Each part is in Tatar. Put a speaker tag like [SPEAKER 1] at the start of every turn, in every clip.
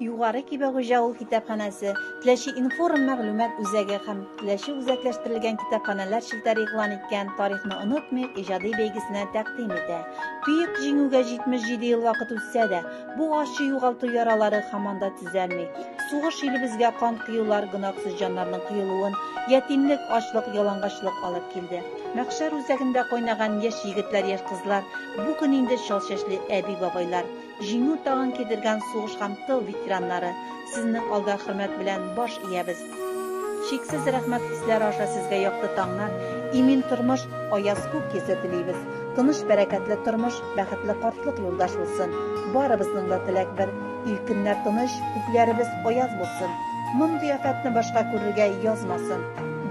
[SPEAKER 1] Югары Кибәгүҗә авыл китапханәсе, Теләче информ мәгълүмат үзәге һәм Теләче үзәкләштерелгән китапханәләр челтәре игълан иткән Тарихны онытмыйк иҗади бәйгесенә тәкъдим итә. Төек җиңүгә 77 ел вакыт үтсә дә, бу ачы югалту яралары һаман да төзәлми. Сугыш илебезгә кан коюлар, гөнаһсыз җаннарның коелуын, ятимлек, ачлык, ялангачлык алып килде. Мәхшәр үзәгендә кайнаган яшь егетләр, яшь кызлар, бу көн инде чал чәчле әби-бабайлар. Җиңү тагын кидергән сугыш һәм тыл ветераннары, сезнең алда хөрмәт белән баш иябез. Чиксез рәхмәт хисләре аша сезгә якты таңнар, имин тормыш, аяз күк йөзе телибез. Тыныч, бәрәкәтле тормыш, бәхетле картлык юлдаш булсын. Барыбызның да теләк бер, ил көннәр тыныч, күкләребез аяз булсын. Мондый афәтне башка күрергә язмасын.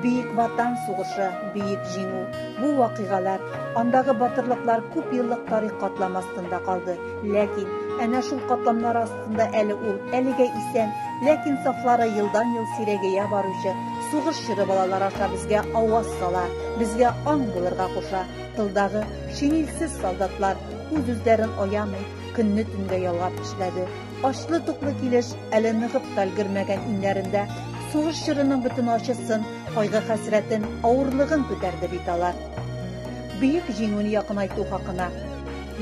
[SPEAKER 1] Бөек Ватан сугышы, Бөек Җиңү! Бу вакыйгалар, андагы батырлыклар күп еллык тарих катламы астында калды. Ләкин, әнә шул катламнар астында әле ул, әлегә исән, ләкин сафлары елдан-ел сирәгәя баручы сугыш чоры балалар аша безгә аваз сала, безгә аң булырга куша. Тылдагы шинельсез солдатлар, үз-үзләрен аямый, көнне-төнгә ялгап эшләде. Ачлы-туклы килеш, әле ныгып та өлгермәгән иңнәрендә сугыш чорының бөтен ачысын, кайгы-хәсрәтен, авырлыгын күтәрде бит алар. Бөек җиңүне якынайту хакына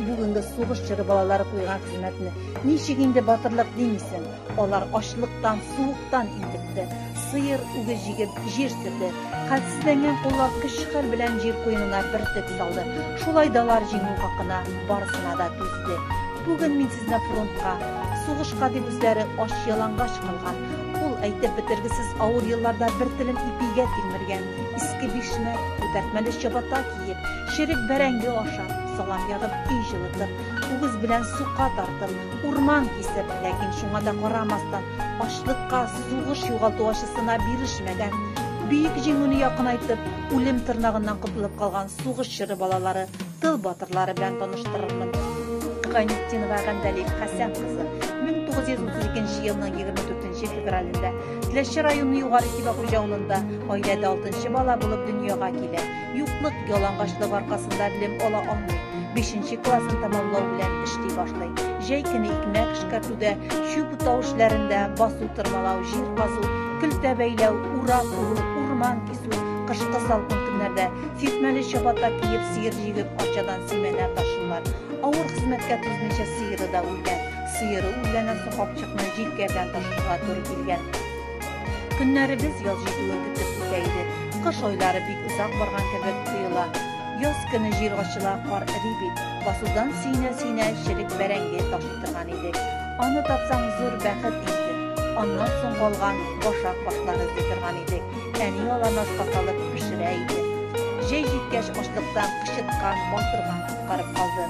[SPEAKER 1] бүгенге сугыш чоры балалары куйган хезмәтне ничек инде батырлык димисең? Алар ачлыктан, суыктан интекте. Сыер, үгез җигеп, җир сөрде. Хәлсезләнгән куллар көч-хәл белән җир куенына бөртек салды. Шулай далар җиңү хакына барысына да түзде. Бүген мин сезне фронтка, сугышка дип үзләре ач-ялангач калган, ул әйтеп бетергесез авыр елларда бер телем ипигә тилмергән, иске бишмәт, күтәртмәле чабата киеп, черек бәрәңге ашап, салам ягып, өй җылытып, үгез белән сука тартып, урман кисеп, ләкин шуңа да карамастан, ачлыкка, сугыш югалту ачысына бирешмәгән, Бөек Җиңүне якынайтып, үлем тырнагыннан котылып калган сугыш чоры балалары, тыл батырлары белән таныштырырмын. Гайнетдинова Гәндәлиф Хәсән кызы 1932 елның 24 февралендә Теләче районы Югары Кибәхуҗа авылында гаиләдә алтынчы бала булып дөньяга килә. Юклык, ялангачлык аркасында белем ала алмый. Бишенче классын тәмамлау белән эшли башлый. Җәй көне икмәк эшкәртүдә, чүп утау эшләрендә, басу тырмалау, җир казу, көлтә бәйләү, ура куру, урман кисү, кышкы салкын көннәрдә сисмәле чабата киеп, сыер җигеп, арчадан симәнә ташыйлар. Авыр хезмәткә түзмичә сыеры да үлгән. Сыеры үлгәннән соң капчыкны җилкә белән ташырга туры килгән. Көннәребез яз җитүен көтеп үтә иде. Кыш айлары бик озак барган кебек тоела. Яз көне җир ачыла, кар эри бит. Басудан сөенә-сөенә черек бәрәңге ташый торган идек. Аны тапсаң, зур бәхет инде. Аннан соң калган башак башлар эзли торган идек. Әни аларны ашка салып пешерә иде. Җәй җиткәч, ачлыктан кычыткан, балтырган коткарып калды.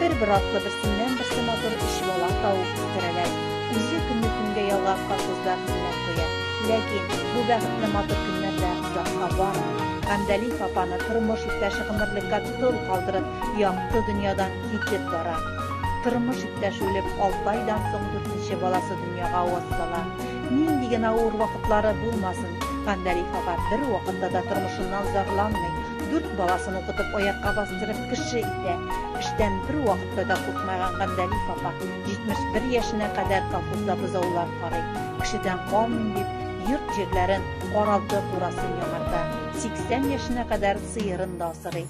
[SPEAKER 1] Бер-бер артлы берсеннән-берсе матур өч бала тауып үстерәләр. Үзе көнне көнгә ялгап колхозда хезмәт куя. Ләкин бу бәхетле матур көннәр дә озакка бармый. Гамдәлиев апаны тормыш иптәше гомерлеккә тол калдырып, якты дөньядан китеп бара. Тормыш иптәше үлеп, алты айдан соң дүртенче баласы дөньяга аваз сала. Нинди генә авыр вакытлары булмасын, Гамдәлиев апа бервакытта да тормышыннан зарланмый, дүрт баласын укытып, аякка бастырып кеше итә. Эштән бервакытта да куркмаган Гандәлиф апа 71 яшенә кадәр колхозда бозаулар карый. Кешедән калмыйм дип, йорт-җирләрен, каралты-курасын яңарта. 80 яшенә кадәр сыерын да асрый.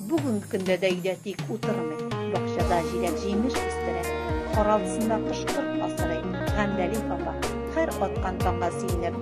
[SPEAKER 1] Бүгенге көндә дә өйдә тик утырмый. Бакчада җиләк-җимеш үстерә. Каралтысында кош-корт асрый. Гандәлиф апа, һәр аткан таңга сөенеп,